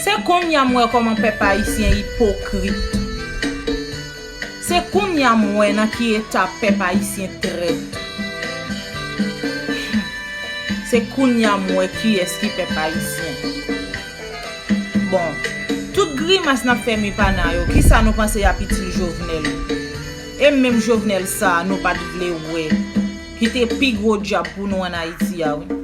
Se konnya m wè kòman pèp ayisyen ipokrit. Se konnya m wè nan ki eta pèp ayisyen trèt. Hum. Se konnya m wè kiyès ki pèp ayisyen. Bon, tout grimas n ap fè mi pana yo, kisa nou panse y ap itil Jovenel? E menm Jovenel sa a nou pa t vle wè, ki te pi gwo dyab pou nou ann Ayiti a wi.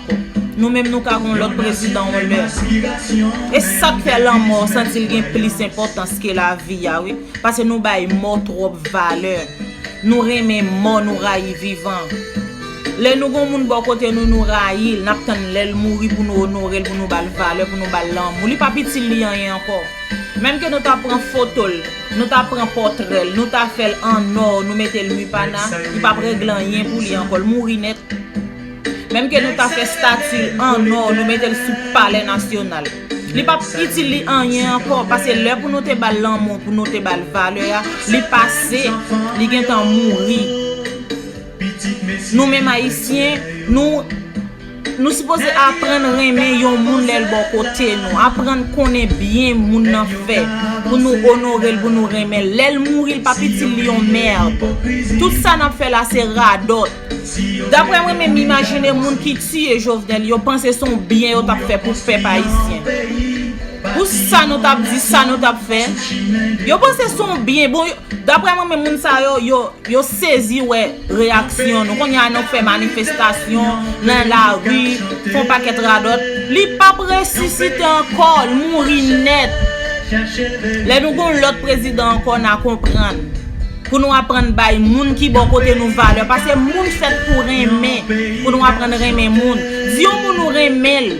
Nou menm nou ka gon lòt prezidan yon lè. E sak fè lanmò santi l gen plis enpòtans ke lavi a wi. Pase nou bay mò twòp valè. Nou renmen mò nou rayi vivan. Lè nou gon moun bò kote nou nou rayi l, nap tann lè l mouri pou nou onore l, pou nou ba l valè, pou nou ba l lanmou. Li pap itil li anyen ankò. Menm ke nou ta pran foto l, nou ta pran pòtrè l, nou ta fè l an nò, nou mete l Mupanah, li pap regle anyen pou li ankò. L mouri nèt. Menm ke nou ta fè stati l an nò, nou mete l sou palè nasyonal. Li pap itil li anyen ankò, pase lè pou nou te ba l lanmou, pou nou te ba l valè a, li pase, li gen tan mouri. Nou menm Ayisyen, nou, nou sipoze aprann renmen yon moun lè l bò kote nou, aprann konnen byen moun nan fè, pou nou onore l, pou nou renmen l. Lè l mouri, li pap itil li yon mèrd. Tout sa n ap fè la se radòt. Daprè mwen menm imajine moun ki tiye Jovenel yo panse son byen yo tap fè pou pèp ayisyen pou sa nou tap di sa nou tap fè yo panse son byen bon daprè mwen menm moun sa yo yo sezi wè reyaksyon nou konnya nou fè manifestasyon nan lari fon pakèt radòt li pap resisite ankò l mouri nèt lè nou gon lòt prezidan ankò na konprann. Pou nou aprann bay moun ki bò kote nou valè. Pase moun fèt pou renmen. Pou nou aprann renmen moun. Di yon moun ou renmen l.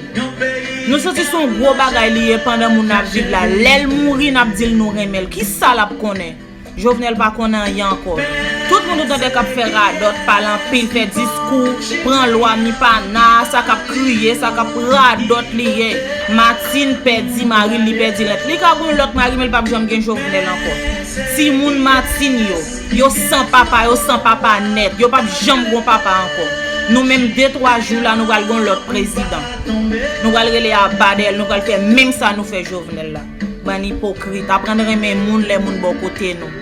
Nou santi se yon gwo bagay li ye pandan moun nan ap viv la. Lè l mouri n ap di l nou renmen l. Ki sa l ap konnen? Jovenel pa konnen anyen ankò. Tout moun ou tande k ap fè radòt, pale anpil, fè diskou, pran lwa mi pa na, sa k ap kriye, sa k ap radòt li ye. Martine pèdi mari l, li pèdi lèt. Li ka gen yon lòt mari men li p ap janm gen Jovenel ankò. Timoun Martine yo, yo san papa, yo san papa nèt, yo pap janm gon papa ankò. Nou menm de twa jou la nou pral gon lòt prezidan. Nou pral rele Abadèl, nou pral fè menm sa nou fè Jovenel la. Bann ipokrit, aprann renmen moun lè moun bò kote nou.